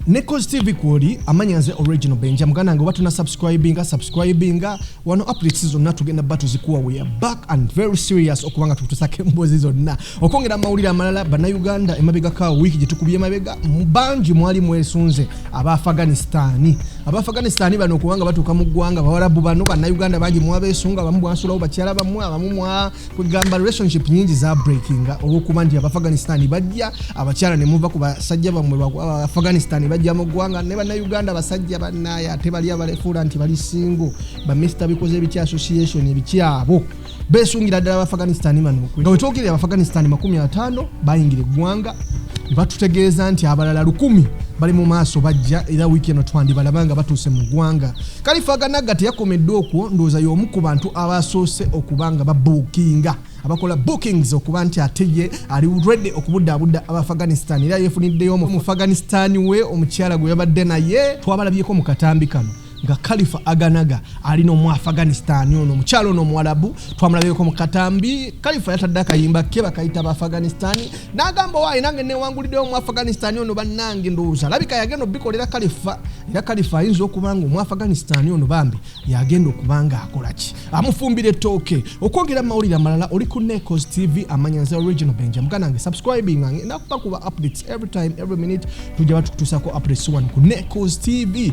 ne cause tv kwoli amanya nze original benja muganda nge obatuna subscribinga subscribinga wano updates zonna tugenda ba tuzikuwa we are back and very serious okubanga tukutusako emboozi zonna okwongera amawulire amalala bannayuganda emabegaka wiiki gye tukubye emabega bangi mwali mwesunze aba afghanistani aba afghanistani bano okubanga batuuka mu ggwanga bawalabu bano bannayuganda bangi mwabesunga abamu bwansulawo bakyala bamwe abamu kwegamba relationship nyingi za breakinga olwokuba nti abafghanistan bajja abakyala nemuva ku basajja bamwe afghanistan bajja mu ggwanga ne bannauganda abasajja banaye ate bali abalefuula nti bali singo ba mista bikoze ebiki association ebikyabo besungira ddala abafghanistan bano nga wetwogerera abafghanistan makumi ataano bayingira eggwanga batutegeeza nti abalala lukumi bali mu maaso bajja era wiiki eno twandibalaba nga batuuse mu ggwanga Kalifaga Nagga teyakomeddwa okwo ndowooza y'omu ku bantu abaasoose okuba nga babuukinga abakola bookings okuba nti ate ye ali ready okubudaabuda abaafghanistan era yeefuniddeyo omufghanistan we omukyala gwe yabadde naye twabalabyeko mu katambi kano nga kalifa aganaga ali nomu afghanistan ono omukyalo ono omuwalabu twamulabyeko mu katambi kalifa yatadde akayimba ke bakayita ba afghanistan n'agamba waayi nange newanguliddewo mu afghanistan ono bannange ndowooza alabika yagenda obikolera kalifa era kalifa ayinza okuba nga omu afghanistan ono bambi yagenda okuba nga akola ki amufumbira ettooke okwogera mu mawulire amalala oli ku necos tv amanyanza original benja muganda nge subscribing ange nakuba kuba updates every time every minute tujja batukutuusako updates one ku necos tv